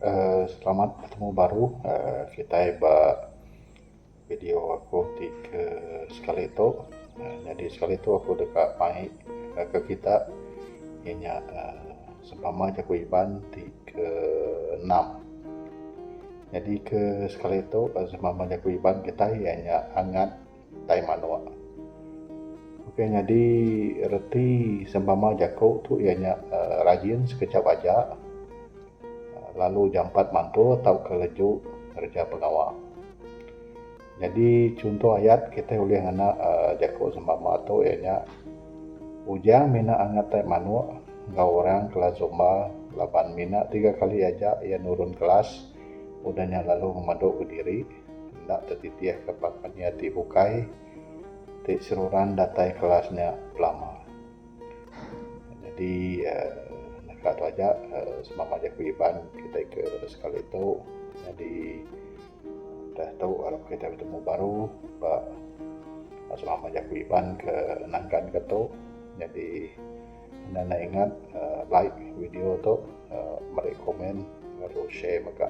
uhh Selamat betemu baru uhh kitai ba video aku ti ke sekali tu uhh nyadi sekali tu aku deka mai ke kita iya nya uhh sempama jaku Iban ti ke enam. Nyadi ke sekali tu sempama jaku Iban kitai iya nya angat. tai manok. Okey nyadi reti sempama jaku tu iya nya rajin sekejap aja lalu jampat mantu tauka leju ngereja pengawa. Nyadi chunto ayat kitai ulih ngena jaku sempama tu iya nya Ujang mina angat tai manok enggau orang kelas zumba laban mina tiga kali aja iya nurun kelas udah nya lalu ngemadu kediri. Enda tetitih ke ba kenyia ti bukai ti seruran datai kelas nya belama. Nyadi naka tu aja semama jaku Iban kitai ke sekali tu. Nyadi udah tu arap kitai betemu baru ba semama jaku Iban ke nangkan ke tu. Nyadi enda nai ingat like video tu meri komen lalu share mega.